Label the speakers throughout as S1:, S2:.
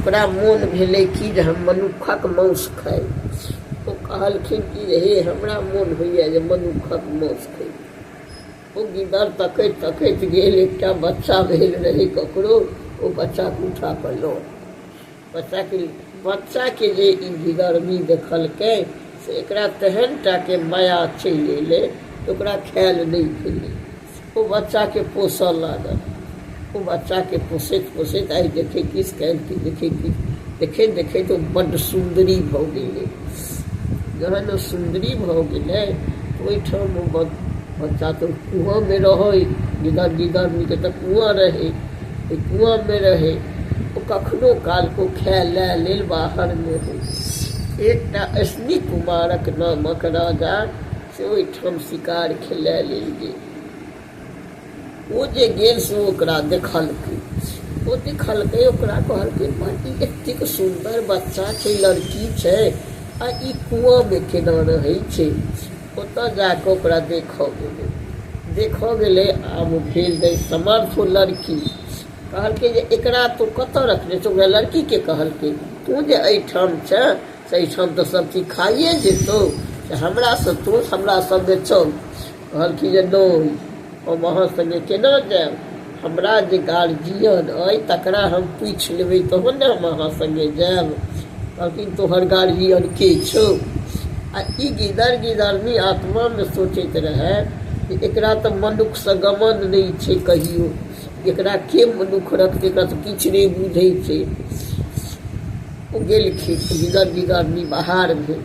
S1: ओकरा मोन भेलै कि जे हम मनुखक मौस खाइ ओ कहलखिन कि जे हे हमरा मोन होइए जे मनुखक मौस खाइ ओ गिदड़ तकैत तकैत गेल एकटा बच्चा भेल रहै ककरो ओ बच्चाके उठा कऽ लऽ बच्चाके बच्चाके जे ई गिदड़नी देखलकै से एकरा तेहन टा के माया चलि अयलै जे ओकरा खायल नहि भेलै। ओ बच्चा के पोसऽ लागल। ओ बच्चा के पोसैत पोसैत आइ देखै किछु काल्हि की देखै किछु देखैत देखैत ओ बड्ड सुन्दरी भऽ गेलै। जहन ओ सुन्दरी भऽ गेलै तऽ ओहिठाम ओ बच्चा तऽ कुआँ मे रहै। गिदर गिदर नीक तऽ कुआँ रहै। कुआँमे रहै ओ कखनो कालको खाय लए लेल बाहरमे हो एकटा अश्विनी कुमारक नामक राजा से ओहिठाम शिकार खेलाय लेल गेल ओ जे गेल से ओकरा देखलकै ओ देखलकै ओकरा कहलकै माँ ई एतेक सुन्दर बच्चा छै लड़की छै आ ई कुआँमे केना रहै छै ओतऽ जा कऽ ओकरा देखऽ गेलै देखऽ गेलै आब ओ भेल दै समर्थ ओ लड़की कहलकै जे एकरा तू कतऽ रखने छौ ओकरा लड़कीके कहलकै तू जे एहिठाम छे से एहिठाम तऽ सब चीज खाइए जेतौ से हमरासँ तू हमरा सङ्गे चल कहलखिन जे नहि हम अहाँ संगे केना जायब हमरा जे गार्जियन अइ तकरा हम पूछि लेबै तहन ने हम अहाँ संगे जायब कहलखिन तोहर गार्जियन के छौ आ ई गिदर गिदरनी आत्मामे सोचैत रहए जे एकरा तऽ मनुखसँ गमन नहि छै कहियो एकरा के मनुख रखतै एकरा तऽ किछु नहि बुझै छै ओ गेलखिन गिदर गिदरनी बाहर भेल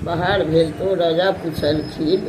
S1: बाहर भेल तऽ ओ राजा पुछलखिन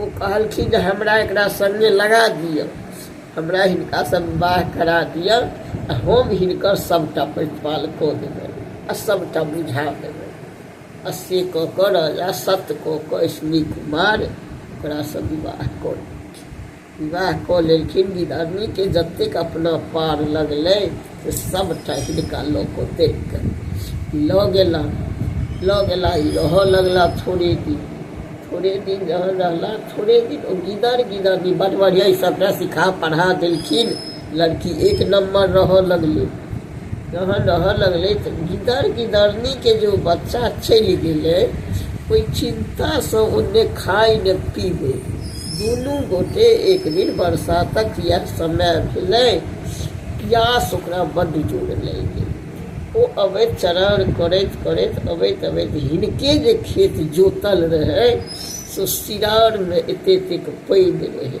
S1: ओ कहलखिन जे हमरा एकरा सङ्गे लगा दिअ हमरा हिनका सब विवाह करा दिअ आ हम हिनकर सभटा प्रतिपाल कऽ देबै आ सभटा बुझा देबै आ से कऽ कऽ राजा सत्य कऽ कऽ अश्विनी कुमार ओकरासँ विवाह कऽ लेलखिन विवाह कऽ लेलखिन। गिदरनी केँ जतेक अपना पार लगलै से सभटा हिनका लऽ कऽ देख कऽ लऽ गेलाह। लऽ गेलाह ई रहऽ लगलाह थोड़े दिन। थोड़े दिन जहन रहलाह थोड़े दिन ओ गिदर गिदरनी बड्ड बढ़िआँ ई सभटा सिखा पढ़ा देलखिन। लड़की एक नंबर रह लगले रह रह लगले तो गिदर गिदरनी के जो बच्चा चल गए कोई चिंता से उन्हें खाई न पीबे दुनू गोटे एक दिन बरसातक यह समय भेलै प्यास ओकरा बड्ड जोर लागि गेल ओ अबैत चरार करैत करैत अबैत अबैत हिनके जे खेत जोतल रहै से सिरारमे एते एतेक पानि रहै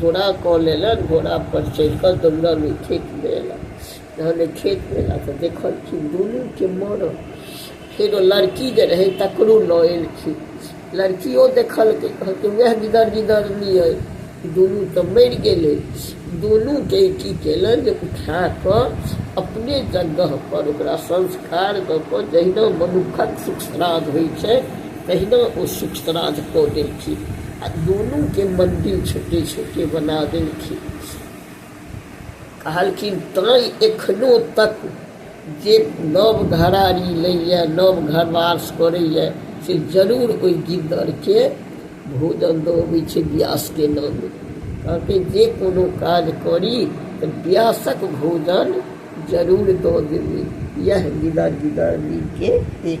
S1: घोड़ा कऽ लेलनि घोड़ापर चढ़िकऽ दौड़ल ओहि खेतमे अएलनि जहन ओहि खेतमे अएलाह तऽ देखलखिन दुनूके मरल फेरो लड़की जे रहै तकरो लऽ अएलखिन लड़किओ देखलकै कहलकै वएह गिदर गिदरनी अइ दुनू तऽ मरि गेलै दुनूके की केलनि जे उठाकऽ अपने जगहपर ओकरा संस्कार दऽ कऽ जहिना मनुक्खक सुख श्राद्ध होइ छै तहिना ओ सूक्ष्तराज कऽ देलखिन आ दुनूके मन्दिर छोटे छोटे बना देलखिन कहलखिन तैँ एखनो तक जे नव घरारी लैए नव घरवास करैए से जरूर ओहि गिद्दरके भोजन दऽ अबै छै व्यासके नाम कहलकै जे कोनो काज करी तऽ व्यासक भोजन जरूर दऽ देबै इएह गिदर गिदर मिलके एक